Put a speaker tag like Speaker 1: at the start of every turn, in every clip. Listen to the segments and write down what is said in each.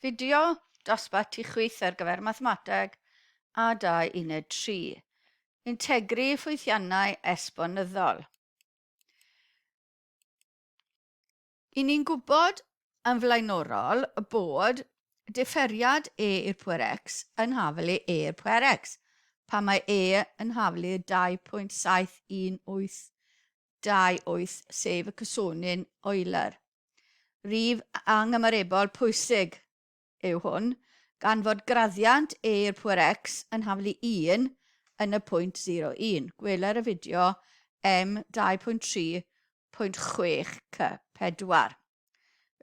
Speaker 1: Fideo dosbarth ti chwith ar gyfer Mathemateg a 2 Uned 3, Integri ffwythiannau esbonyddol. I ni'n gwybod yn flaenorol bod differiad e i'r pwer x yn haflu e i'r pwer x, pan mae e yn haflu 2.7182 sef y cysonyn Euler. Rif anghymarebol pwysig yw hwn, gan fod graddiant E i'r pŵer x yn haflu 1 yn y pwynt 01. Gweler y fideo M 2.3.6 C 4.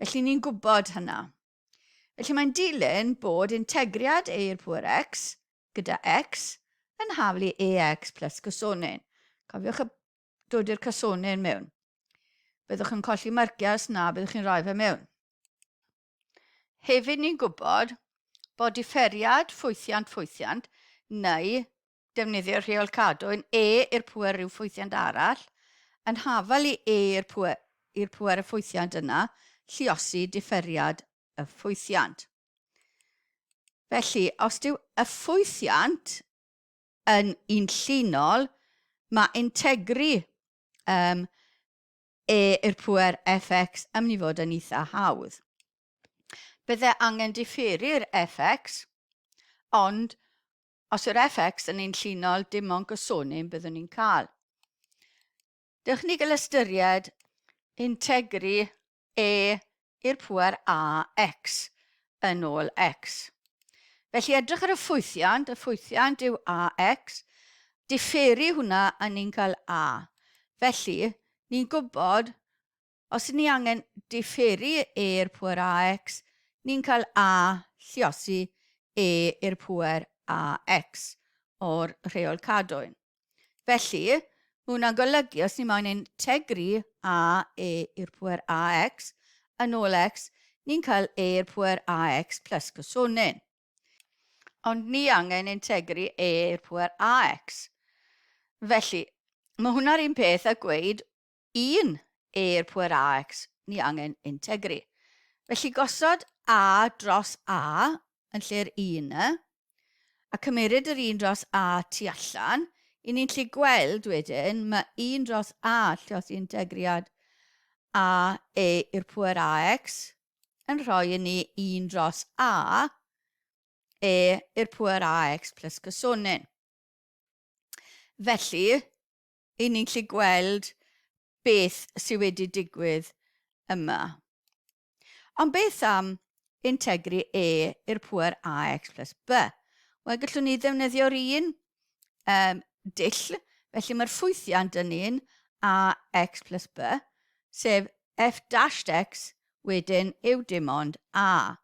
Speaker 1: Felly ni'n gwybod hynna. Felly mae'n dilyn bod integriad E i'r pŵer x gyda x yn haflu ex plus gosonyn. Cofiwch y dod i'r casonyn mewn. Byddwch yn colli marciau os na byddwch chi'n rhoi fe mewn. Hefyd ni'n gwybod bod differiad ffwythiant ffwythiant neu defnyddio rheol cadwyn E i'r pwer rhyw ffwythiant arall yn hafal i E i'r pwer, i'r pwer y ffwythiant yna lliosi differiad y ffwythiant. Felly, os dyw y ffwythiant yn un llinol, mae integri um, e i'r pwer fx yn mynd i fod yn eitha hawdd. Bydde angen diffeiri'r fx, ond os yw'r fx yn ein llinol, dim ond gosonyn byddwn ni'n cael. Dewch ni gael ystyried integri e i'r pŵer ax yn ôl x. Felly edrych ar y ffwythiant, y ffwythiant yw ax, diferu hwnna a ni'n cael a. Felly, ni'n gwybod, os ni angen diferu e i'r pŵer ax, ni'n cael a lliosi e i'r pŵer ax o'r rheol cadwyn. Felly, mae hwnna'n golygu, os ni moyn ein tegru a e i'r pwer ax yn ôl x, ni'n cael e i'r pwer ax plus cosonyn. Ond ni angen ein tegru e i'r pwer ax. Felly, mae hwnna'r un peth a gweud 1, Eir pŵer AX ni angen integri. Felly gosod A dros A yn lle'r 1 y, a cymeryd yr 1 dros A tu allan, i ni'n lli gweld wedyn mae 1 dros A llioth integriad A e i'r pŵer AX yn rhoi i ni 1 dros A e i'r pŵer AX plus cysonyn. Felly, 'y ni'n gallu gweld beth sy wedi digwydd yma. Ond beth am integri e i'r pŵer ax plus b? Wel, gallwn ni ddefnyddio'r un um, dull, felly mae'r ffwythiant yn un ax plus b, sef f dashed x wedyn yw dim ond a.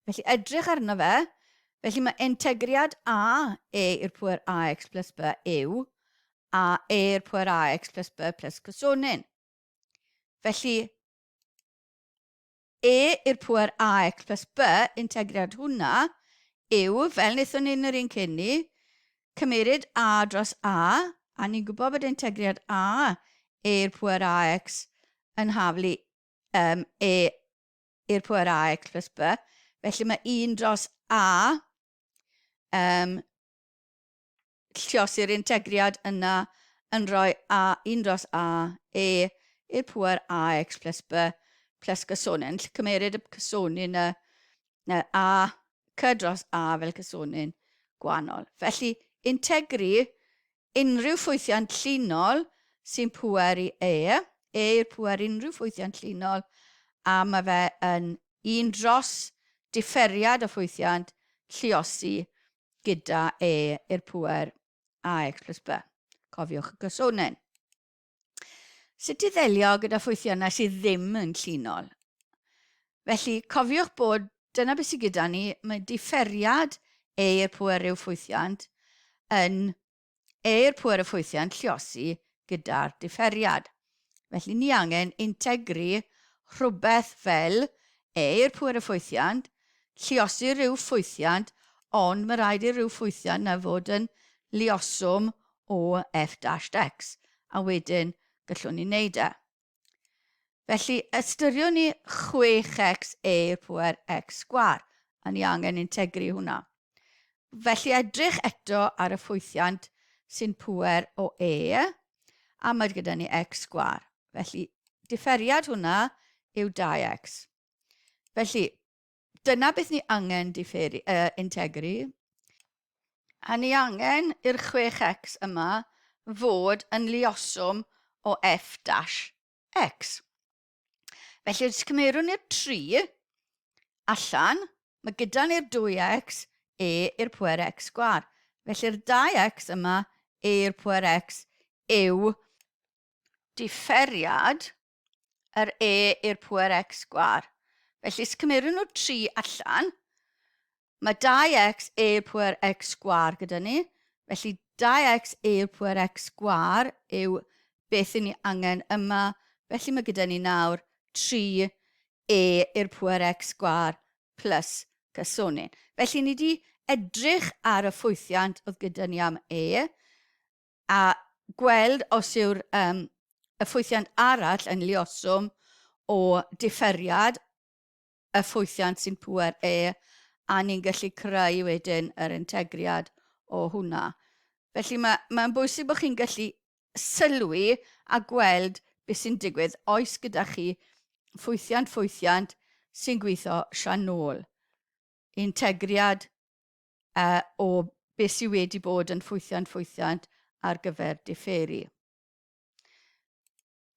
Speaker 1: Felly edrych arno fe, felly mae integriad a e i'r pwer ax plus b yw a e i'r pwer ax plus b plus cosonyn. Felly e i'r pwer ax plus b integriad hwnna yw, fel wnaethon ni yn yr un cyn ni, cymeryd a dros a, a ni'n gwybod bod integriad a e i'r pwer ax yn haflu um, e i'r pŵer A x plus B, felly mae 1 dros A um, lliosi'r integriad yna yn rhoi A, 1 dros A, E i'r pŵer A x plus B plus cysonyn. Lle cymeryd y cysonyn y, y A cy dros A fel cysonyn gwahanol. Felly, integri Unrhyw ffwythiant llinol sy'n pŵer i E, E yw'r pŵer unrhyw ffwythiant llinol a mae fe yn un dros diferiad o ffwythiant lluosi gyda E i'r pŵer ax plus by. Cofiwch y cysonyn. Sut i ddelio gyda ffwythiannau sydd ddim yn llinol. Felly, cofiwch bod dyna beth sydd gyda ni, mae diferiad eir pwer rhyw ffwythiant yn eir pwer y ffwythiant lliosi gyda'r diferiad. Felly, ni angen integru rhywbeth fel eir pwer y ffwythiant, lliosi rhyw ffwythiant, ond mae rhaid i'r rhyw ffwythiant na fod yn lioswm o F dash X, a wedyn gallwn ni wneud e. Felly, ystyriwn ni 6x e i'r pŵer x sgwar, a ni angen integru hwnna. Felly, edrych eto ar y ffwythiant sy'n pŵer o e, a mae gyda ni x sgwar. Felly, differiad hwnna yw 2x. Felly, Dyna beth ni angen diferu, uh, integru. A ni angen i'r 6x yma fod yn lioswm o f dash x. Felly, os cymerwn ni'r 3 allan, mae gyda ni'r 2x e i'r pwer x sgwar. Felly'r 2x yma e i'r pwer x yw diferiad yr E i'r pŵer X sgwar. Felly, os cymerwn nhw 3 allan, mae 2x e i'r pŵer x sgwar gyda ni. Felly, 2x e i'r pŵer x sgwar yw beth i ni angen yma. Felly, mae gyda ni nawr 3 e i'r pŵer x sgwar plus cysonyn. Felly, ni wedi edrych ar y ffwythiant oedd gyda ni am e. a gweld os yw'r um, effwythiant arall yn lioswm o differiad y ffwythiant sy'n pŵer E, a ni'n gallu creu wedyn yr integriad o hwnna. Felly mae, mae'n bwysig bod chi'n gallu sylwi a gweld beth sy'n digwydd oes gyda chi ffwythiant ffwythiant sy'n gweithio sian nôl, integriad uh, o beth sydd wedi bod yn ffwythiant ffwythiant ar gyfer differi.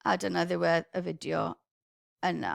Speaker 1: A dyna ddiwedd y fideo yna.